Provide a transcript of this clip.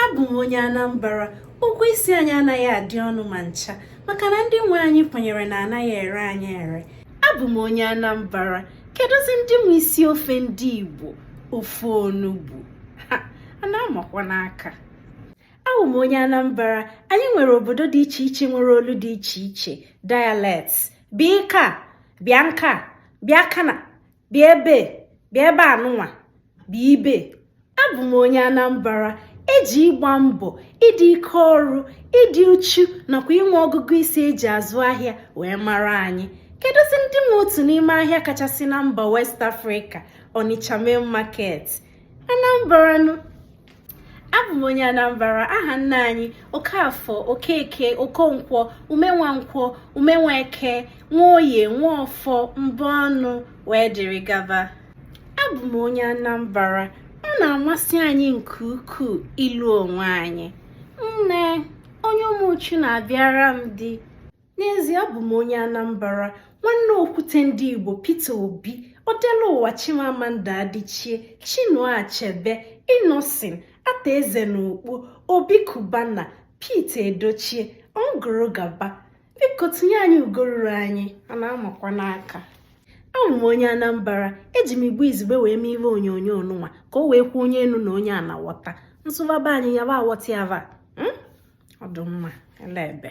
abụ m onye Anambra ụgwọ isi anyị anaghị adị ọnụ ma ncha maka na ndị nwe anyị kwenyere na anaghị ere anyị ere abụ m onye Anambra kedụzi ndị nwe isi ofe ndị Igbo ofe onugbu a na-amakwa n'aka abụ m onye Anambra anyị nwere obodo dị iche iche nwere olu dị iche iche dialects bịa ịkaa bịa nkaa bịa kana bịa ebe bịa ebe anụnwa bịa ibe abụ m onye Anambra eji ịgba mbọ ịdị ike ọrụ ịdị uchu nakwa inwe ọgụgụ isi eji azụ ahịa wee mara anyị kedụzi ndị nwe otu n'ime ahịa kachasị na mba West Africa Onitsha Main Market Anambra abụ m onye anambra aha nna anyị okafọ okeke okonkwọ umenwankwọ umenweke nwoye nwọfọ mbọnụ wee dịrị gaba abụ m onye anambra ọ na-amasị anyị nke ukwuu ịlụ onwe anyị nne onye ụmụchu na-abịara m dị n'ezie abụ m onye anambra nwanne okwute ndị igbo peter obi odeluwa chimamanda adichie chinua achebe innoson arthur eze na ukpo obi cubana pete edochie gụrụ gaba biko tinye anyị ugo ruru anyị a na-amakwa n'aka abụ m onye anambra eji m igbo izugbe wee mee ihe onyonyo nụnwa ka o wee kwe onye enu na onye ana ghọta m sụba be anyị yaba aghọta yaba hmm? ọ dụ mma ele ebe